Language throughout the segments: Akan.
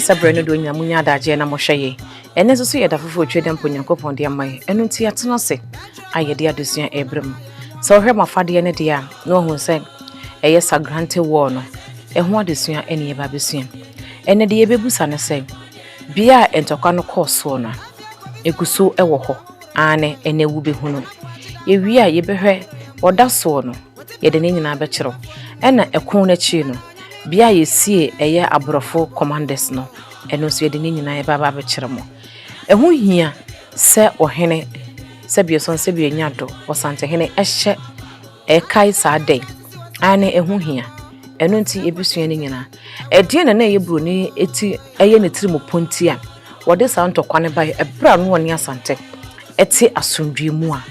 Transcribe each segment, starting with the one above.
sɛ berɛ no do nya munya adagyeɛ na mohwɛ yɛ ɛno nso so yɛ da foforɔ twa dɛmpo nyankopɔn de ama yɛ ɛno nti atena ase a yɛde adesua ɛberɛ mu sɛ wohwɛ mo afadeɛ no deɛ a na wahu sɛ ɛyɛ sagrante wɔɔ no ɛho adesua ɛne yɛba bɛsua ɛnɛ deɛ yɛbɛbusa no sɛ Bea a ntɔkwa no kɔɔ soɔ no, ɛgu so wɔ hɔ, aane, ɛnnɛ wobɛhunu. Yɛwie a, yɛbɛhwɛ, ɔda soɔ no, yɛde ne nyinaa bɛkyerɛ wo. Ɛna ɛko no akyiri no, bea a yɛsie ɛyɛ aborɔfo commanders no, ɛno nso yɛde ne nyinaa yɛbɛ aba abɛkyerɛ mo. Ɛho hia sɛ ɔhene, sɛdeɛ ɔsane sɛdeɛ ɔnya do, ɔsantehene hyɛ. Ɛkae saa dɛn? Aane, ɛho hia. Ɛno nti yɛbɛsua ne nyinaa. Ɛdeɛn na na ɛyɛ buroni ti ɛyɛ ne tiri mu ponti a wɔde saa ntɔkwa no baeɛ ɛberɛ a na ɔne Asante te asomdwoeɛ mu a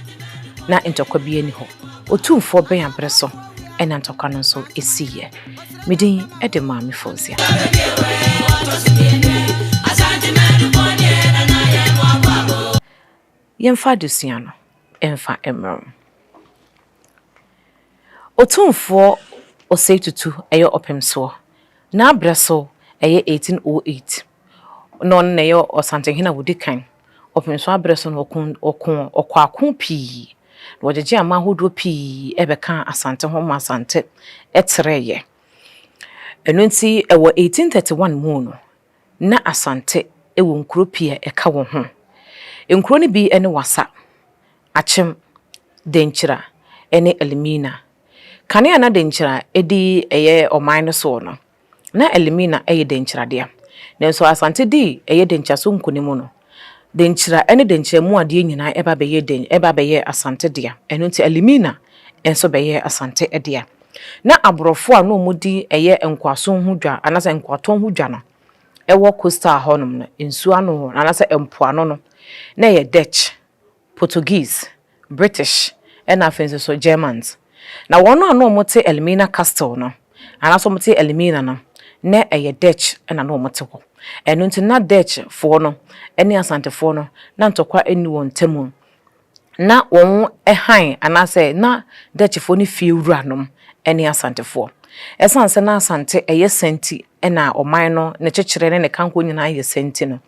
na ntɔkwa biara nni hɔ? Otumfoɔ bɛn aberɛ so na ntɔkwa no nso siiɛ? Me din de Maame Fausia. Yɛmfa adesua no mfa mmrɛ wɔn. Otumfoɔ Osei Tutu yɛ ɔpemsoɔ, n'abrɛ so yɛ 1808, na ɔno na ɛyɛ Ɔsantehene a ɔdi kan. Ɔpemsoɔ abrɛ so no ɔkoo ɔkoako pii, na ɔgyegyee aman ahodoɔ pii bɛkaa Asante ho ma Asante trɛeɛ. Ɛno nti wɔ 1831 mu no, na Asante wɔ nkuro pii a ɛka wɔ ho. Nkuro no bi ne Wassa, Akyem, Denkyira ne Elimina. Kane a na Denkyira di ɛyɛ ɔman no soɔ no, na Elimina yɛ Denkyira dea. Nanso Asante dii ɛyɛ Denkyira so nkunim no, Denkyira ne Denkyira mu adeɛ nyinaa ba bɛyɛɛ den, ba bɛyɛɛ Asante dea. Ɛno nti Alimina nso bɛyɛɛ Asante dea. Na aborɔfo a na wɔdi ɛyɛ nkoasom ho dwa anaasɛ nkoatɔn ho dwa no, ɛwɔ coastal hɔnom no, nsuo ano hɔ anaasɛ mpoano no, na ɛyɛ Dutch Portuguese, British, ɛnna afei nso so Germans. Na wɔn a na wɔte Elmina Castle no, anaasɛ wɔte Elmina no, na ɛyɛ Dutch na na wɔte hɔ. Ɛno nti na Dutchfoɔ no ne Asantefoɔ no, na ntɔkwa nni wɔn ntam. Na wɔn hann anaasɛ na Dutchfoɔ ne fie wuranom ne Asantefoɔ. Ɛsiane sɛ na Asante yɛ sɛ nti na ɔman no, ne kyekyerɛ ne ne kanko nyinaa yɛ sɛ nti no,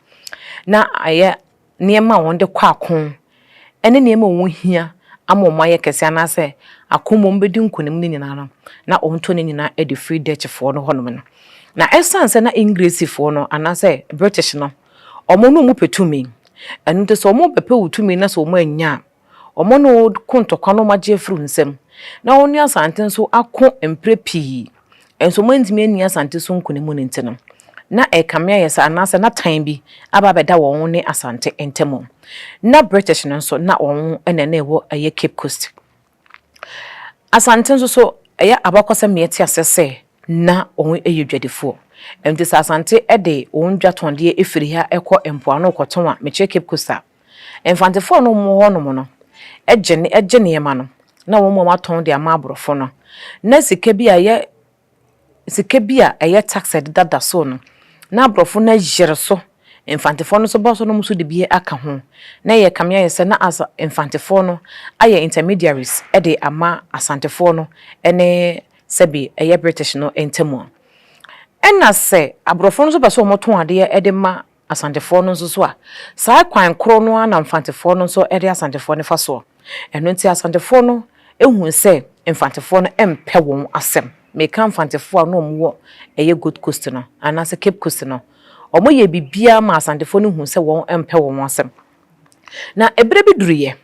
na ɛyɛ nneɛma a wɔde kɔ ako ne nneɛma a wɔhia ama wɔayɛ kɛse anaasɛ ako mu wɔbɛdi nkonim no nyinaa no, na wɔtɔ ne nyinaa de firi Dutchfoɔ no hɔnom no. Na ɛsiane sɛ na Engresifoɔ no anaasɛ British no, wɔne wɔn pɛ tumi, ɛno nti sɛ wɔbɛpɛ wo tumi na sɛ wɔannya a, Wɔne wo ko ntɔkwa na wɔagye afiri wo nsam, na wɔne asante nso ako mprɛ pii, nso wɔantumi anni asante so nkonim no nti no, na ɛrekame ayɛ sɛ anaasɛ na tan bi aba abɛda wɔn ne asante ntam. Ná British no nso, na wɔn na na ɛwɔ ɛyɛ Cape Coast. Asante nso so, ɛyɛ abakɔsɛm na yɛte aseɛ sɛ na wɔyɛ adwadifoɔ. Enti sɛ Asante de wɔn dwa tɔndeɛ firi ha kɔ mpoano rekɔtɔn a, mekyerɛ Cape Coast a, Mfantefoɔ a na wɔwɔ hɔnom no gye gye nneɛma no na wɔn a wɔatɔn de ama aborɔfo no. Na sika bi a ɛyɛ sika bi a ɛyɛ tax a ɛdeda da so no, na aborɔfo no ayere so. Mfantefoɔ no nso ba so na wɔn nso de bi aka ho. Na ɛyɛ kame ayɛ sɛ na as mfantefoɔ no ayɛ intermediaries de ama Asantefoɔ no ne sɛbi ɛyɛ British no ntam. Ɛnna sɛ aborɔfo no nso pɛ sɛ wɔtɔn adeɛ de ma Asantefoɔ no nso so a, saa kwan korɔ no ara na Mfantefoɔ no nso de Asantefoɔ no fa soɔ. Ɛno nti Asantefoɔ no huu sɛ Mfantefoɔ no mpɛ wɔn asɛm. Meka Mfantefoɔ a na wɔn wɔ ɛyɛ Gold Coast no anaasɛ Cape Coast no. Wɔn yɛɛ biribiara maa Asantefoɔ no huu sɛ wɔn mpɛ wɔn asɛm. Na ɛberɛ bi duruiɛ,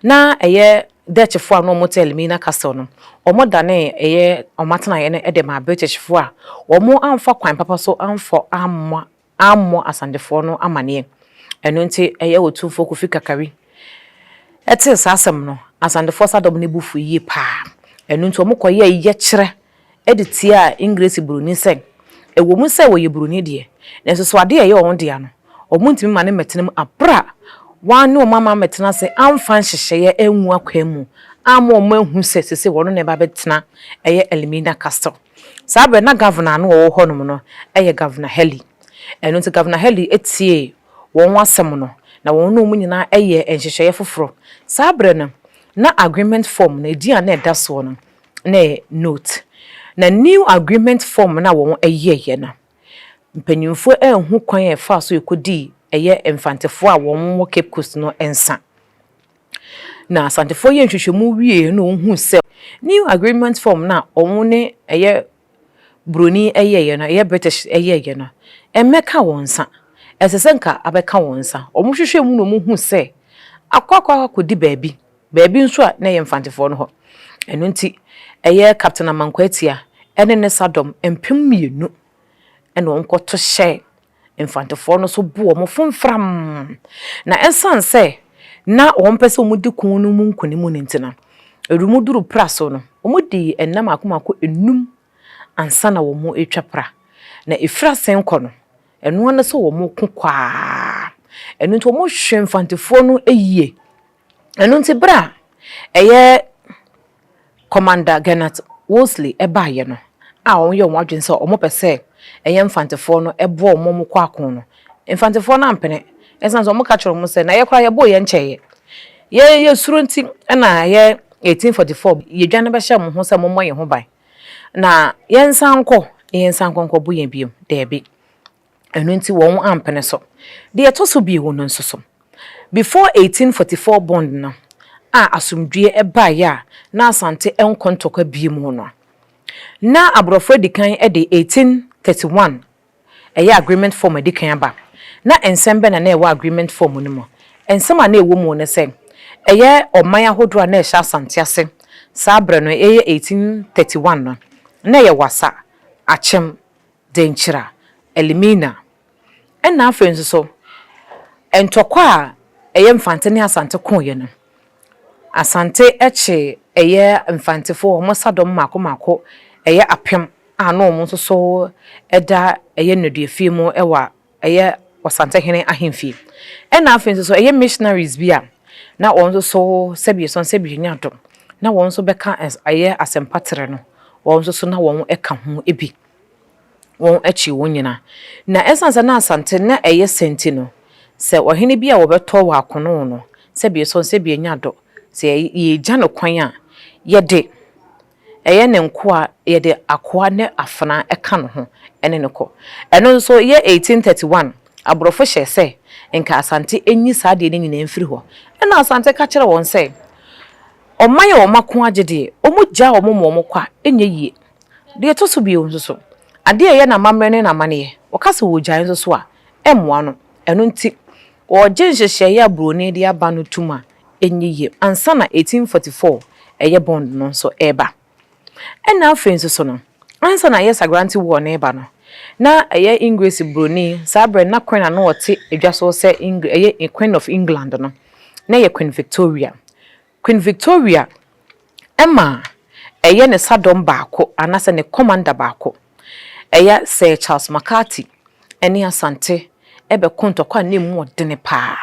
na ɛyɛ Dutchfoɔ a na wɔn te Elmina Castle no, wɔn danee ɛyɛ wɔn atenaeɛ no de maa Britishfoɔ a wɔn amfa kwan papa so amfa amma ammɔ Asantefoɔ no amaneɛ. Ɛno nti ɛyɛ Otumfoɔ Kofi Kakari tee saa asɛm no, Asantefoɔ saa dɔm no bo fui yie pa ara. Ɛno nti wɔkɔyɛɛ yɛkyerɛ de tiaa Engiresi Buroni sɛ, ɛwɔ mu sɛ wɔyɛ Buroni deɛ, nanso so adeɛ a ɛyɛ wɔn dea no, wɔntumi mma no mmɛtena mu berɛ a wɔanne wɔn amma ammɛtena ase amfa nhyehyɛeɛ angu akwan mu amma wɔahu sɛ seesei wɔn na ɛreba abɛtena ɛyɛ Elmina Castle. Saa berɛ no, na Governor a na ɔwɔ hɔnom no yɛ Governor Haley. Ɛno nti Governor Haley tiee wɔn asɛm no, na wɔn ne wɔn nyinaa yɛɛ nhyehyɛeɛ foforɔ. Saa berɛ no, na agreement form no, edin a na ɛda soɔ no, na ɛyɛ Note. Na new agreement form no a wɔyɛeɛ no, mpanimfoɔ anhu kwan a ɛfaa so kɔdii ɛyɛ Mfantefoɔ a wɔwɔ Cape Coast no nsa. Na Asantefoɔ yɛɛ nhwehwɛmu wieeɛ na wɔhuu sɛ New Agreement Form no a wɔn ne ɛyɛ Buroni yɛeɛ no, ɛyɛ British yɛeɛ no, ɛmmɛka wɔn nsa. Ɛsɛ sɛ nka abɛka wɔn nsa. Wɔhwehwɛɛ mu na wɔhuu sɛ akɔ akɔ akɔdi baabi, baabi nso a na ɛyɛ Mfantefoɔ no hɔ. Ɛno nti, ɛyɛ Captain Amankwaatia ne ne sadɔm mpem mmienu na wɔkɔto hyɛɛ Mfantefoɔ no nso buu wɔn fo mfram. Na ɛsiane sɛ na wɔmpɛ sɛ wɔdi ko no mu nkonim no nti no, ɛwom duruu pra so no, wɔdii nna mmaako mmaako nnum ansa na wɔatwa pra. Na ɛfiri ase rekɔ no, ɛno ara ne sɛ wɔko kɔ ara. Ɛno nti, wɔhwee mfantefoɔ no yie Ɛno nti berɛ a ɛyɛ Commander Gernot Wolseley baeɛ no a wɔyɛɛ wɔn adwene sɛ wɔpɛ sɛ ɛyɛ Mfantefoɔ no boa wɔn ma wɔkɔ ako no, Mfantefoɔ no ampene ɛsiane sɛ wɔka kyerɛɛ wɔn sɛ, na yɛn koraa yɛbɔɔ yɛn nkyɛeɛ. Yɛn yɛn suro nti na ɛyɛ 1844 yɛdwane bɛhyɛɛ wɔn ho sɛ wɔmmɔ yɛn ho ban. Na yɛnsan nkɔ, na yɛnsan nkɔ nkɔbo yɛn bio. Daabi. ɛno nti wɔn ampene so. Deɛ ɛtɔ so bio no nso so, before 1844 bond no a asomdwoeɛ baeɛ a na Asante nkɔ ntɔkwa bio mu no, na aborɔfo adi kan de 1831 ɛyɛ agreement form adi kan aba. Na nsɛm bɛn na na ɛwɔ agreement form no mu? Nsɛm a na ɛwɔ mu ne sɛ, ɛyɛ ɔman ahodoɔ a na ɛhyɛ Asante ase saa berɛ no, ɛyɛ 1831 no, na ɛyɛ Wassa, Akyem, Denkyira, Elimina, ɛna afei nso so ntɔkwa a ɛyɛ Mfante ne Asante koeɛ no, Asante kye ɛyɛ Mfantefoɔ wɔn asadɔm mmaako mmaako ɛyɛ apem a na wɔn nso so da ɛyɛ nnaduafie mu wɔ ɛyɛ Ɔsantehene ahemfie. Ɛna afei nso so ɛyɛ Missionaries bi a na wɔn nso so sɛbi yɛsɔn sɛbi yɛnya adom na wɔn nso bɛka ɛyɛ asɛmpa terɛ no wɔn nso so na wɔn ka ho bi. wɔn akyi wɔn nyinaa. Na ɛsiane sɛ na Asante na ɛyɛ sɛ nti no, sɛ ɔhene bi a wɔbɛtɔ wɔ akono no, sɛ bi sɔ no, sɛ bi anya dɔ, sɛ yɛgya no kwan a, yɛde ɛyɛ ne nkoa, yɛde akoa ne afenaa ka ne ho ne no kɔ. Ɛno nso yɛ 1831, aborɔfo hyɛɛ sɛ nka Asante nyi saa adeɛ no nyinaa mfiri hɔ. Ɛna Asante ka kyerɛɛ wɔn sɛ, Ɔman a wɔn ako agye deɛ, wɔgyaa wɔn ma wɔkɔ a, ɛnyɛ yie. Deɛ ɛtɔ so bio nso so, adeɛ a ɛyɛ no amammerɛ ne n'amanneɛ. Wɔka sɛ wɔregyae nso so a, ɛmmoa no. Ɛno nti, wɔregye nhyehyɛeɛ a buroni de aba no tom a ɛnyɛ yie ansa na 1844 ɛyɛ bond no nso reba. Ɛnna afei nso so no, ansa na ɛyɛ Sagrante War no reba no, na ɛyɛ Engiresi buroni, saa berɛ no na Queen a na ɔte adwa so sɛ Engir ɛyɛ Queen of England no, na ɛyɛ Queen Victoria. Queen Victoria ma ɛyɛ ne sadɔm baako anaasɛ ne commander baako. Ɛyɛ Sir Charles McCarthy ne Asante bɛko ntɔkwa a na ɛmu wɔ dene paa.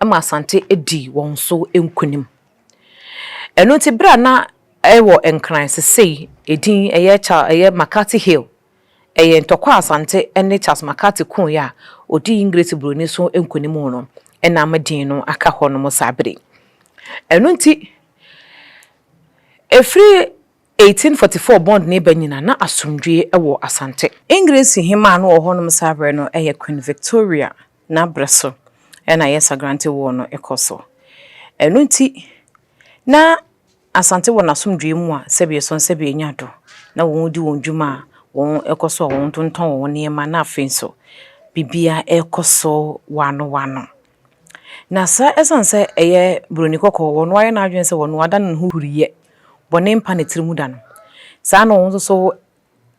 Ɛma Asante dii wɔn so nkunim. Ɛno nti berɛ a na ɛwɔ Nkran sesei ɛdin ɛyɛ Charles ɛyɛ McCarthy Hill Ɛyɛ ntɔkwa a Asante ne Charles McCarthy koe a odii Engiresi buroni so nkonim no nam din no aka hɔnom saa bere yi. Ɛno nti, ɛfiri 1844 Bond reba nyinaa, na asomdwoe wɔ Asante. Engiresi hemmaa a na ɔwɔ hɔnom saa bere no yɛ Queen Victoria, na bere so na Yesa Granty War no rekɔ so. Ɛno nti, na Asante wɔ n'asomdwoe mu a sɛbeɛ sɔn sɛbeɛ anya do na wɔn di wɔn dwuma a wɔn kɔ so a wɔn tontɔn wɔn nneɛma na afei nso biribiara kɔ so wɔano wɔano. Na saa ɛsiane sɛ ɛyɛ buroni kɔkɔɔ wɔn ayɛ n'adwene sɛ wɔn ada no ne ho huriyɛ bɔne mpa ne tiri mu da no saa na wɔn nso so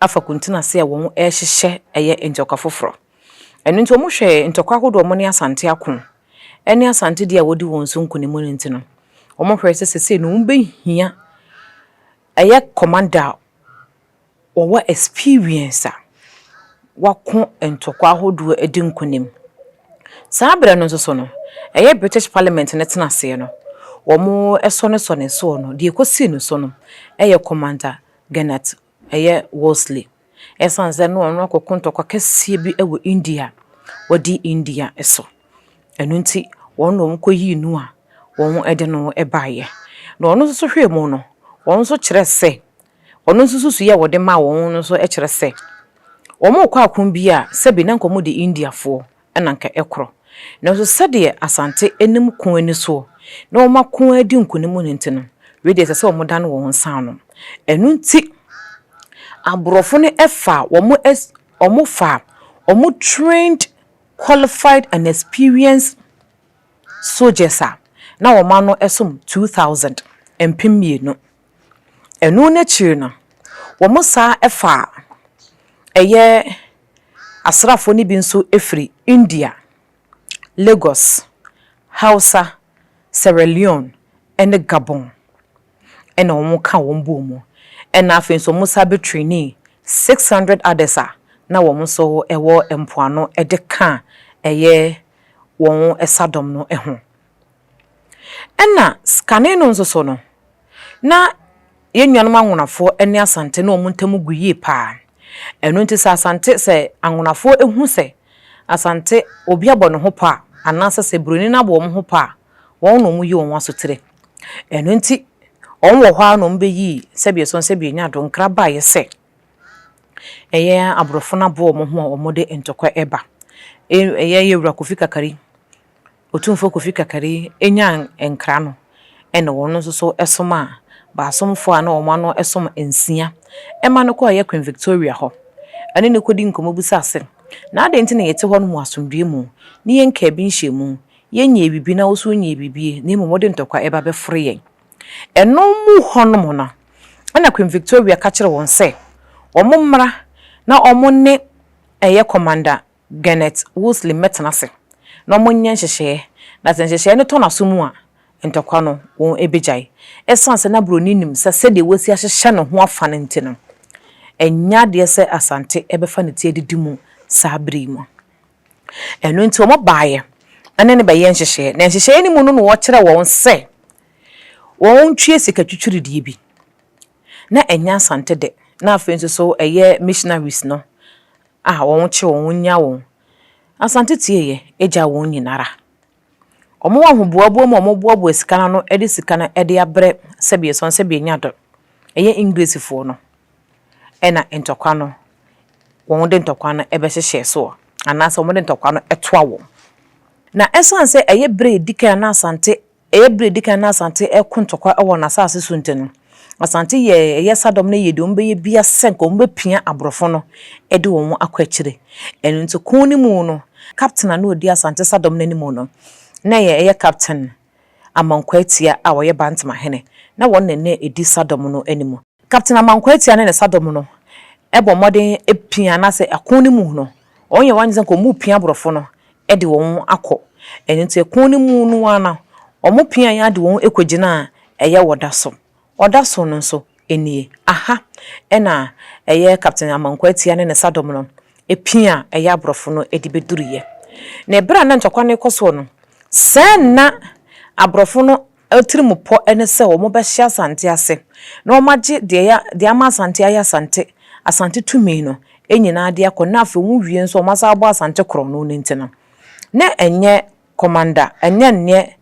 afa kuntun ase a wɔn ɛhyehyɛ ɛyɛ ntɔkwa foforɔ. Ɛno nti wɔn hwɛ ntɔkwa ahodoɔ a wɔn ne Asante ako ɛne Asante deɛ a wɔdi wɔn so nkunimu no nti no wɔn hwɛ sɛ sesei no wɔn bɛhia ɛyɛ kɔmanda a wɔwɔ experience a wako ntɔkwa ahodoɔ adi nkunim. Saa berɛ no nso so no ɛyɛ British Parliament no tena aseɛ no wɔn ɛsɔ no sɔ ne soɔ no deɛ ɛkɔsii no so no ɛyɛ kɔmanda Gernert, ɛyɛ Wolseley. Esiane sɛ na ɔno akɔko ntɔkwa kɛseɛ bi wɔ India, wadi India so, ɛno nti wɔn na wɔkɔyii no a wɔde no baeɛ. Na ɔno nso hwɛɛ mu no, ɔno nso kyerɛɛ sɛ, ɔno nso nsusuiɛ a wɔde maa wɔn no nso kyerɛ sɛ, wɔkɔ ako bi a sɛbi na anka wɔde Indiafoɔ na anka ɛkorɔ. Nanso sɛdeɛ Asante anim ko ani soɔ na wɔn ako ara di nkunim no nti no, wei deɛ ɛsɛ sɛ wɔdane wɔn nsa ano. Ɛno nti, aborɔfo no faa wɔn as, wɔfaa wɔn trained, qualified and experienced soldiers a na wɔn ano som two thousand, mpem mmienu, Ɛno no akyiri no, wɔsan faa ɛyɛ asraafoɔ no bi nso firi India, Lagos, Hausa, Sierra Leone ne Gabon na wɔka wɔn bɔɔ mu. Ɛna afei nso wɔsan bɛtrenii six hundred others a na wɔn nso wɔ mpoano de ka ɛyɛ wɔn sadɔm no ho. Ɛna kane no nso so no, na yɛn nuanom anwonafoɔ ne Asante ne wɔn ntam gu yie pa ara. Ɛno nti sɛ Asante, sɛ anwonafoɔ hu sɛ Asante obi abɔ ne ho pɔ a, anaasɛ sɛ Buroni no abɔ wɔn ho pɔ a, wɔn na wɔyi wɔn asotire. Ɛno nti wɔn wɔ hɔ ara na wɔbɛyii sɛdeɛ ɛsɔ sɛ bɛnya do nkra baeɛ sɛ ɛyɛ aborɔfo no aboa wɔn ho a wɔde ntɔkwa ba. Ɛyɛ Yɛwura Kofi Kakari. Otumfoɔ Kofi Kakari nyaa nkra no na wɔn nso so somaa baasomfoɔ a na wɔn ano som nsia ma no kɔeɛ Queen Victoria hɔ. Ɛne no kɔdi nkɔmmɔ bisaa se, Na adɛn nti na yɛte hɔ nom wɔ asomdwoeɛ mu ne yɛnkaa bi nhyɛɛ mu, yɛnnyɛɛ biribi na wo nso wonnyɛɛ biribi na mmom wode ntɔkwa reba bɛfore yɛn? Ɛno mu hɔ nom no na Queen Victoria ka kyerɛɛ wɔn sɛ wɔn mmra na wɔn ne ɛyɛ Commander Gernette Wosley mmɛtena ase na wɔnyɛ nhyehyɛɛ, na sɛ nhyehyɛɛ no tɔ n'asomu a, ntɔkwa no wɔbɛgyae. Ɛsiane sɛ na Buroni nim sɛ sɛdeɛ wasi ahyehyɛ ne ho afa no nti no, ɛnyɛ adeɛ sɛ Asante bɛfa ne ti adidi mu saa berɛ yi mu. Ɛno nti wɔbaeɛ ne no bɛyɛɛ nhyehyɛɛ, na nhyehyɛɛ no mu no na wɔkyerɛɛ wɔn sɛ wɔntwie sika twitwiridie bi. Na ɛnyɛ Asante dɛ, na afei nso so ɛyɛ missionaries no a wɔn kye wɔn wɔn nya wɔn Asante tieyɛ agya wɔn nyinara wɔn ahoboaboa mu a wɔn boaboa sika no ano de sika no de abrɛ sɛbi ɛsɔn sɛbi enya do ɛyɛ English foɔ no ɛna ntɔkwa no wɔn de ntɔkwa no ɛbɛ hyehyɛ soɔ anaasɛ wɔn de ntɔkwa no ɛtoa wɔn na ɛsan sɛ ɛyɛ brɛ edikan na Asante Ɛyɛ bere a edi kan na Asante reko ntɔkwa wɔ n'asase so nti no, Asante yɛɛ ɛyɛ Sadɔm no yɛɛ deɛ wɔbɛyɛ biara sɛ nka wɔbɛpia aborɔfo no de wɔn akɔ akyire. Ɛno nti ko no mu no, kapten a na ɔdi Asante Sadɔm no anim no, na ɛyɛ ɛyɛ Kapten Amankwaa Atia a ɔyɛ Bantama hene, na wɔn na na ɛdi Sadɔm no anim. Kapten Amankwaa Atia ne ne Sadɔm no bɔ mmɔden pia anaasɛ ko no mu no, Wɔn yɛ wɔn adwene sɛ nka wɔn repia aborɔfo no de wɔn akɔ. Ɛno nti ɛkɔn no mu no ara no wɔn piaeɛ ara de wɔn kɔ gyinaa ɛyɛ ɔda so. Ɔda so no nso nie. Aha ɛna ɛyɛ Captain Amankwah Atia ne ne sadɔm no pia ɛyɛ aborɔfo no de bɛduruiɛ. Na ɛberɛ a na ntɔkwa no rekɔ soɔ no, sɛɛ na aborɔfo no Atirimpɔ ne sɛ wɔbɛhyɛ Asante ase na wɔagye deɛ ɛyɛ deɛ ama Asante ayɛ Asante, Asante tumi no, nyinaa de akɔ na afei wɔwie nso a wɔasan abɔ Asante korɔn no nti no. Na ɛnyɛ Commander, ɛnyɛ neɛ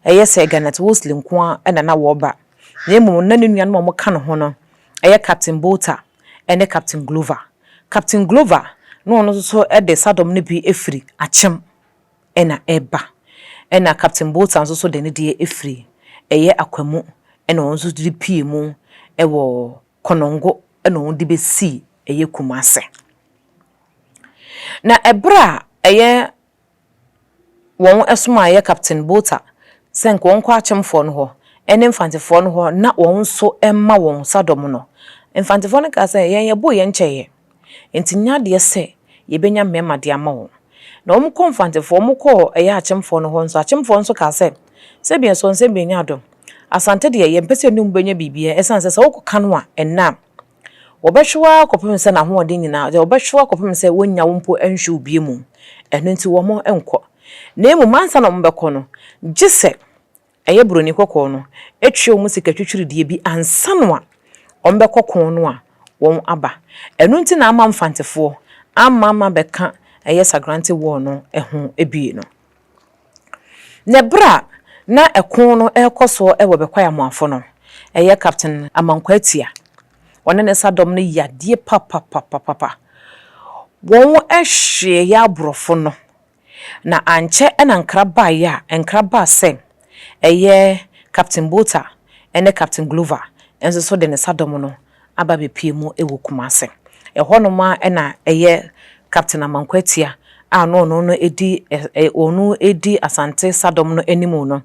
ɛyɛ Sir Garnet Wolseley nko ara na na wɔreba na mmom na ne nuanom a wɔka ne ho no yɛ Captain Botha ne Captain Glover. Captain Glover na ɔno nso de sadɔm no bi firi Akyem. na ɛba. Ɛna Captain Botha nso so de ne deɛ ɛfiri ɛyɛ Akwamu ɛna wɔn nso de pue mu ɛwɔ Konongo ɛna wɔn de bɛsi ɛyɛ Kumase. Na ɛberɛ a ɛyɛ wɔn ɛsomaa ɛyɛ Captain Botha sɛ nka wɔn kɔ Akyemfoɔ no hɔ ɛne Mfantefoɔ no hɔ na wɔn nso ɛmma wɔn sadɔm no, Mfantefoɔ no kaa sɛ yɛn yɛboo yɛn kyɛeɛ. Enti nya adeɛ sɛ yɛbɛnya mmarima de ama wɔn. Na wɔkɔɔ Mfantefoɔ, wɔkɔɔ ɛyɛ Akyemfoɔ no hɔ nso, Akyemfoɔ nso kaa sɛ, Sɛdeɛ soɔ nsɛm deɛ ɛnyɛ dɔ. Asante deɛ, yɛmpɛ sɛ yɛne mo bɛnya biribiara, ɛsiane sɛ sɛ wokɔka no a, ɛnnɛ a, wɔbɛhwe wo ara kɔpem sɛ n'ahoɔden nyinaa, wɔbɛhwe wo ara kɔpem sɛ wɔnnya wo mpo nhwe wo bio mmom. Ɛno nti wɔnkɔ. Na mmom, ansa na wɔbɛkɔ no, gye sɛ ɛyɛ Buroni kɔkɔɔ no, atua wɔn sikatwitwiridie bi ansa no a wɔbɛkɔ ko no a wɔaba. Ɛno nti na ama Mfantefoɔ amma amma bɛka ɛyɛ Sagrante War no ho bie no. Na ɛberɛ a na ɛko no rekɔ soɔ wɔ Bekwai Amoafo no, ɛyɛ Captain Amankwah Atia, ɔne ne sa dɔm no yadeɛ papapapapapa. Wɔn hyeeɛ aborɔfo no Na ankyɛ na nkra baeɛ a nkra baa sɛ ɛyɛ Captain Botha ne Captain Glover nso so de ne sadɔm no aba abɛpue mu wɔ Kumase. Ɛhɔ nom ara na ɛyɛ Captain Amankwa Atia a na ɔno no di ɛ ɛ ɔno di Asante sadɔm no anim no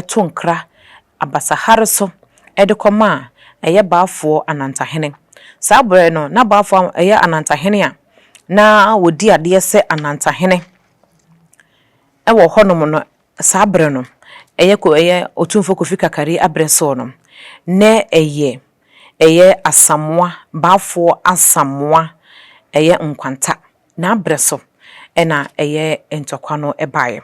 to nkra abasahare so de kɔmaa ɛyɛ Baafoɔ Anantahene. Saa berɛ no, na Baafoɔ a ɛyɛ Anantahene a na ɔdi adeɛ sɛ Anantahene wɔ hɔnom no, saa berɛ no, ɛyɛ ko ɛyɛ Otumfoɔ Kofi Kakari aberɛ soɔ no, na ɛyɛ ɛyɛ Asamoah, Baafoɔ Asamoah ɛyɛ Nkwanta n'abrɛ so na ɛyɛ ntɔkwa no baeɛ.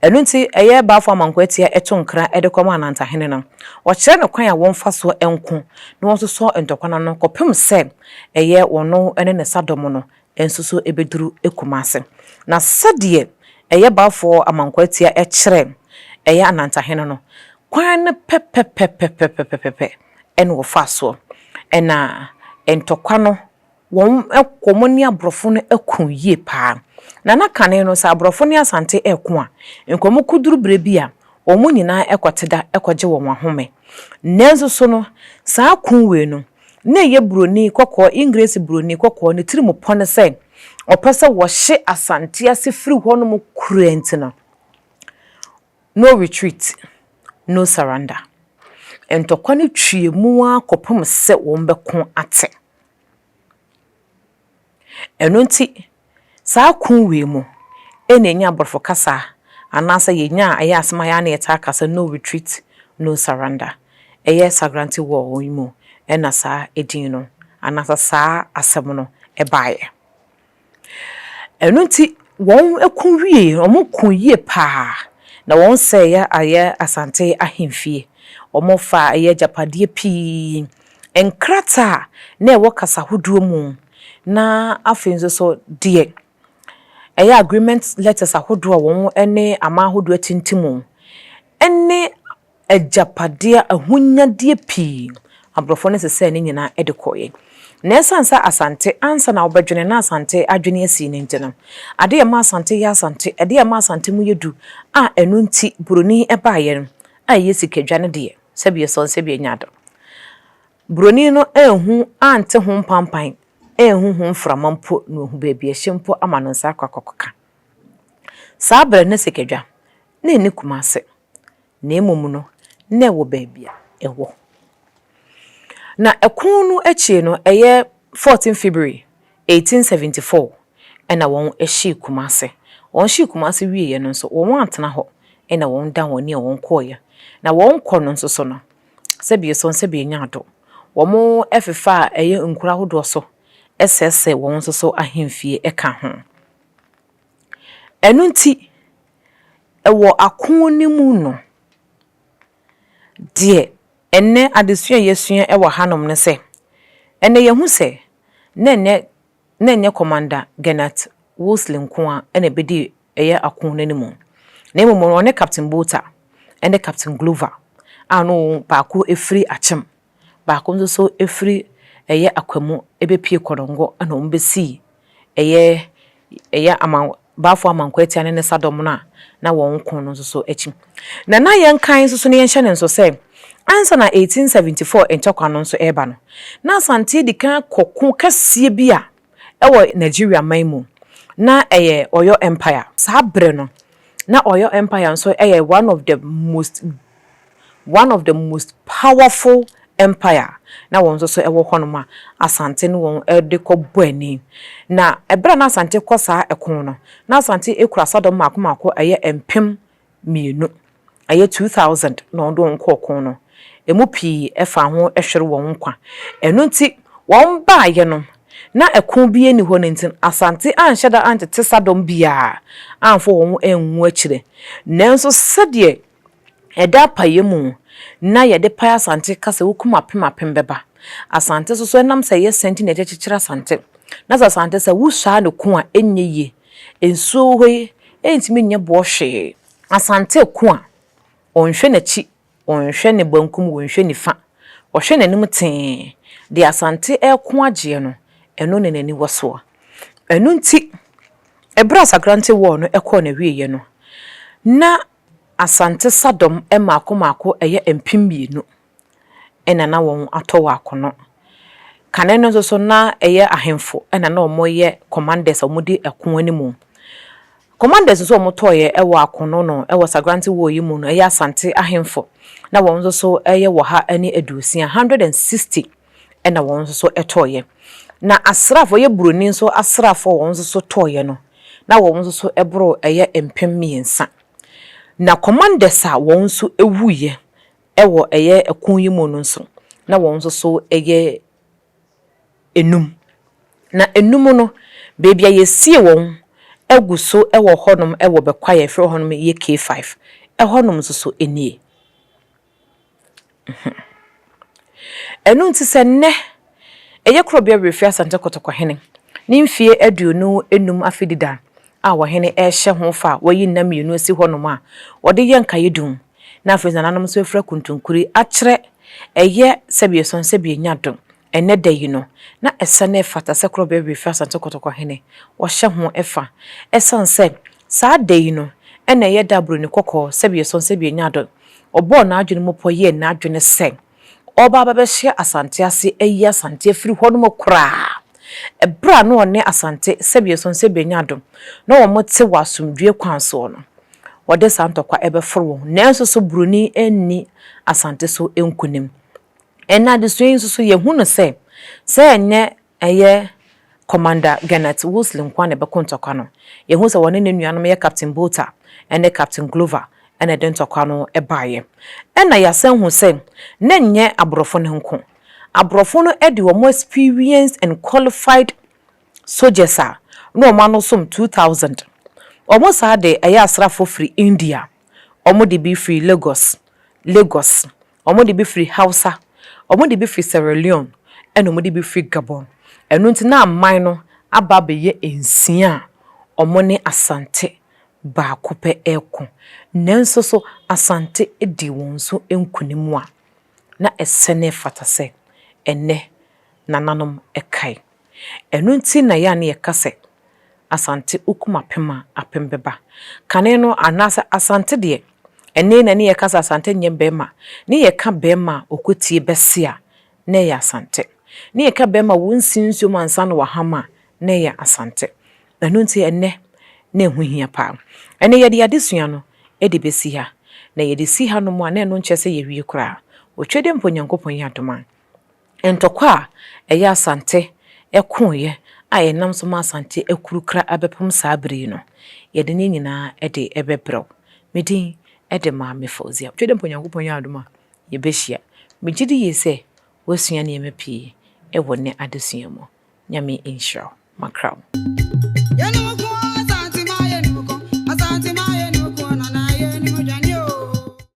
Ɛno nti ɛyɛ Balfour Amankwaatia to nkra de kɔma Anantahene no, ɔkyerɛ no kwan a wɔmfa so nko na wɔnsosɔ ntɔkwa no ano kɔpem sɛ ɛyɛ ɔno ne ne sadɔm no nso so bɛduru Kumase. Na sɛdeɛ ɛyɛ Balfour Amankwaatia kyerɛ ɛyɛ Anantahene no, kwan no pɛpɛpɛpɛpɛpɛpɛpɛ na wɔfaa soɔ na ntɔkwa no Wɔn ko wɔn ne aborɔfo no ko yie paa. Na na kane no sɛ aborɔfo ne Asante reko a, nka wɔn kɔduru berɛ bi a, wɔn nyinaa kɔte da kɔgye wɔn ahome. Nanso so no, saa ko wei no, na ɛyɛ buroni kɔkɔɔ, Engiresi buroni kɔkɔɔ no tirim pɔ no sɛ ɔpɛ sɛ wɔhye Asante ase firi hɔ nom kura nti no, no retreat, no surrender. Ntɔkwa no tweam ara kɔpem sɛ wɔbɛko ate. Ɛno nti, saa ko wei mu na yɛnya aborɔfo kasa anaasɛ yɛnya a ɛyɛ asɛm a yɛ a na yɛtaa ka sɛ no retreat, no surrender. Ɛyɛ Sagrante War yi mu na saa din no anaasɛ saa asɛm no baeɛ. Ɛno nti, wɔko wieeɛ, wɔko yie pa ara, na wɔsɛeɛ ayɛ Asante ahemfie. Wɔfaa ɛyɛ agyapadeɛ pii, nkrataa a na ɛwɔ kasa ahodoɔ mu, na afei nso so deɛ ɛyɛ agreement letters ahodoɔ a wɔne aman ahodoɔ atintim, ne agyapadeɛ, ahonyadeɛ pii, aborɔfoɔ no sesɛɛ ne nyinaa de kɔeɛ. Na ɛsiane sɛ Asante, ansa na wobɛdwene na Asante adwene asi no nti no, adeɛ a ɛma Asante yɛ Asante, adeɛ a ɛma Asante mu yɛ du a ɛno nti Buroni baeɛ no, a ɛyɛ sikadwa no deɛ, sɛdeɛ sɔn sɛdeɛ ɛnya ado. Buroni no anhu, ante ho mpampan, anhu ho mframa mpo na wahu baabi a ɛhye mpo ama ne nsa akɔ akɔka. Saa berɛ no na sikadwa, na ɛnni Kumase. na mmom no, na ɛwɔ baabi a ɛwɔ. Na ɛko no akyiri no, ɛyɛ fourteen February eighteen seventy four ɛna wɔn hyii Kumasi. Wɔn hyii Kumasi wie yɛ no nso, wɔn antena hɔ ɛna wɔn dan wɔn ani a wɔn kɔɔ yɛ. Na wɔn kɔ no nso so no, sɛbi esɔn sɛbi enya ado, wɔn ɛfefa a ɛyɛ nkuro ahodoɔ so ɛsɛɛsɛɛ wɔn nso so ahemfie ɛka ho. Ɛno nti. Wɔ ako no mu no, deɛ ɛnnɛ adesua a yɛasua wɔ hanom ne sɛ, ɛnnɛ yɛahu sɛ na ɛnyɛ na ɛnyɛ Commander Gernot Wolseley nko ara na ɛbɛdii ɛyɛ ako no anim, na mmom no ɔne Captain Botha ne Captain Glover a na wɔn baako firi Akyem. baako nso so ɛfiri ɛyɛ Akwamu ɛbɛpue Konongo ɛna wɔn bɛsii ɛyɛ ɛyɛ aman Baafoɔ Amankwaatia ne ne sadɔm no a na wɔn ko no nso so akyi. Na na yɛnkan nso so na yɛnhyɛ no nso sɛ ansa na 1874 ntɔkwa no nso ɛreba no na Asante dikan kɔ ko kɛseɛ bi a wɔ Nigeria man mu, na ɛyɛ Oyo Empire. Saa bere no, na Oyo Empire nso yɛ one of the most one of the most powerful empire, na wɔn nso so wɔ hɔnom a Asante ne wɔn de kɔ bɔ ani. Na bere a na Asante kɔ saa ɛko no, na Asante kura asadɔm mmaako mmaako ɛyɛ mpem mmienu, ɛyɛ two thousand na wɔde wɔn kɔ ɔko no, ɛmu pii faa ho hwere wɔn nkwa. Ɛno nti, wɔn baeɛ no, na ɛko biara nni hɔ no nti, Asante anhyɛ da antete sadɔm biara amfa wɔn angu akyire. Nanso sɛdeɛ ɛda apaeɛ mu na yɛde pae Asante ka sɛ wokum apem apem bɛba. Asante nso so, ɛnam sɛ ɛyɛ sɛ nti na yɛde kyekyere Asante. Na sɛ Asante sɛ wosua no ko a, ɛnyɛ yie. Nsuo wɔ hɔ yi ɛntumi nyɛ boɔ hwee. Asante ko a, ɔnhwɛ n'akyi, ɔnhwɛ ne bankum, ɔnhwɛ nifa. Ɔhwɛ n'anim tee. Deɛ Asante reko agyeɛ no, ɛno na n'ani wɔ soɔ. Ɛno nti, ɛberɛ a Sagrante War no kɔɔ n'awieɛ no, na Asante sadɔm mmaako mmaako yɛ mpem mmienu. na na wɔatɔ wɔ akono. Kane no nso so, na ɛyɛ ahemfo na na wɔyɛ commanders a wɔdi ɛko anim. Commanders nso a wɔtɔeɛ wɔ akono no wɔ Sagrante War yi mu no, ɛyɛ Asante ahemfo. Na wɔn nso so yɛ ɔha ne aduosia, 160, na wɔn nso so tɔeɛ. Na asraafoɔ, ɛyɛ Buroni nso asraafoɔ a wɔn nso so tɔeɛ no, na wɔn nso so boro ɛyɛ mpem mmiɛnsa. Na commanders a wɔn nso wuiɛ Wɔ ɛyɛ ɛko yi mu no nso, na wɔn nso so yɛ nnum. Na nnum no, baabi a yɛasie wɔn agu so wɔ hɔnom wɔ Bɛkɔ a yɛfrɛ hɔnom yɛ K-Five, ɛhɔnom nso so nie. Mh. Ɛno nti sɛ nnɛ ɛyɛ Korɔbea Werɛfie Asante Kɔtɔkɔhene ne mfeɛ aduonu nnum afe dida a ɔhene rehyɛ ho fa a wayi nna mmienu asi hɔnom a wɔde yɛ nkaedum na afei nananom nso afira kuntunkuri akyerɛ ɛyɛ sɛdeɛ ɛsɔn sɛ bienya do ɛnnɛ da yi no na ɛsɛ na ɛfata sɛ koro bɛwe fi Asante Kotoko hene wɔhyɛ ho fa ɛsiane sɛ saa da yi no ɛna ɛyɛ da a Buroni Kɔkɔɔ sɛdeɛ ɛsɔn sɛ bienya do ɔbɔɔ n'adwene mu pɔ yɛɛ n'adwene sɛ ɔreba abɛbɛhyɛ Asante ase ayi Asante afiri hɔnom koraa. Ɛberɛ a na ɔne Asante sɛdeɛ Sonse bɛnya adom na wɔte wɔ asomdwoeɛ kwan soɔ no, wɔde saa ntɔkwa ɛbɛforo wɔn ho. Nanso so Buroni anni Asante so nkunim? Ɛnnɛ adesua yi nso so yɛhunu sɛ, sɛ ɛnyɛ Ɛyɛ Commander Gernot Wolseley nko ara na ɛbɛko ntɔkwa no. Yɛahu sɛ wɔne ne nuanom yɛ Captain Botha ne Captain Glover na ɛde ntɔkwa no baeɛ. Ɛnna yɛasan hu sɛ na ɛnyɛ aborɔfo no nko. Aborɔfo no de wɔn experienced and qualified soldiers a na wɔn ano som two thousand. Wɔn saa de ɛyɛ asraafoɔ firi India, wɔde bi firi Lagos, Lagos, Wɔde bi firi Hausa, wɔde bi firi Sierra Leone, ɛnna wɔde bi firi Gabon. Ɛno nti na aman no aba abɛyɛ nsia a wɔne Asante baako pɛ reko. Nanso so Asante dii wɔn so nkonim a na ɛsɛ na ɛfata sɛ ɛnnɛ nananom kae? Ɛno nti na yɛ a na yɛka sɛ Asante okum apem a, apem bɛba. Kane no, anaasɛ Asante deɛ, ɛnne na ne yɛka sɛ Asante nyɛ bɛrima. Ne yɛka bɛrima a ɔkɔtie bɛse a, na ɛyɛ Asante. Ne yɛka bɛrima a wɔnsi nsuo mu ansa na wɔaham a, na ɛyɛ Asante. Ɛno nti ɛnnɛ, na ɛho hia pa ara. Ɛnnɛ yɛde adesua no de bɛsi ha. Na yɛde si hanom a, na ɛno nkyerɛ sɛ yɛawie koraa. Otwadeɛ mpo Onyankopɔn yɛ adom a. Ntɔkwa a ɛyɛ Asante ɛkoeɛ a ɛnam so ma Asante akuru kra abɛpem saa bere yi no, yɛde ne nyinaa de bɛbrɛ wo. Me din de Maame Fauzia. Twɛdɛ mpo Nyankopɔn yɛ adom a, yɛbɛhyia. Megye di yie sɛ woasua nneɛma pii wɔ nnɛ adesua mu. Nyame nhyira wo. Makra wo.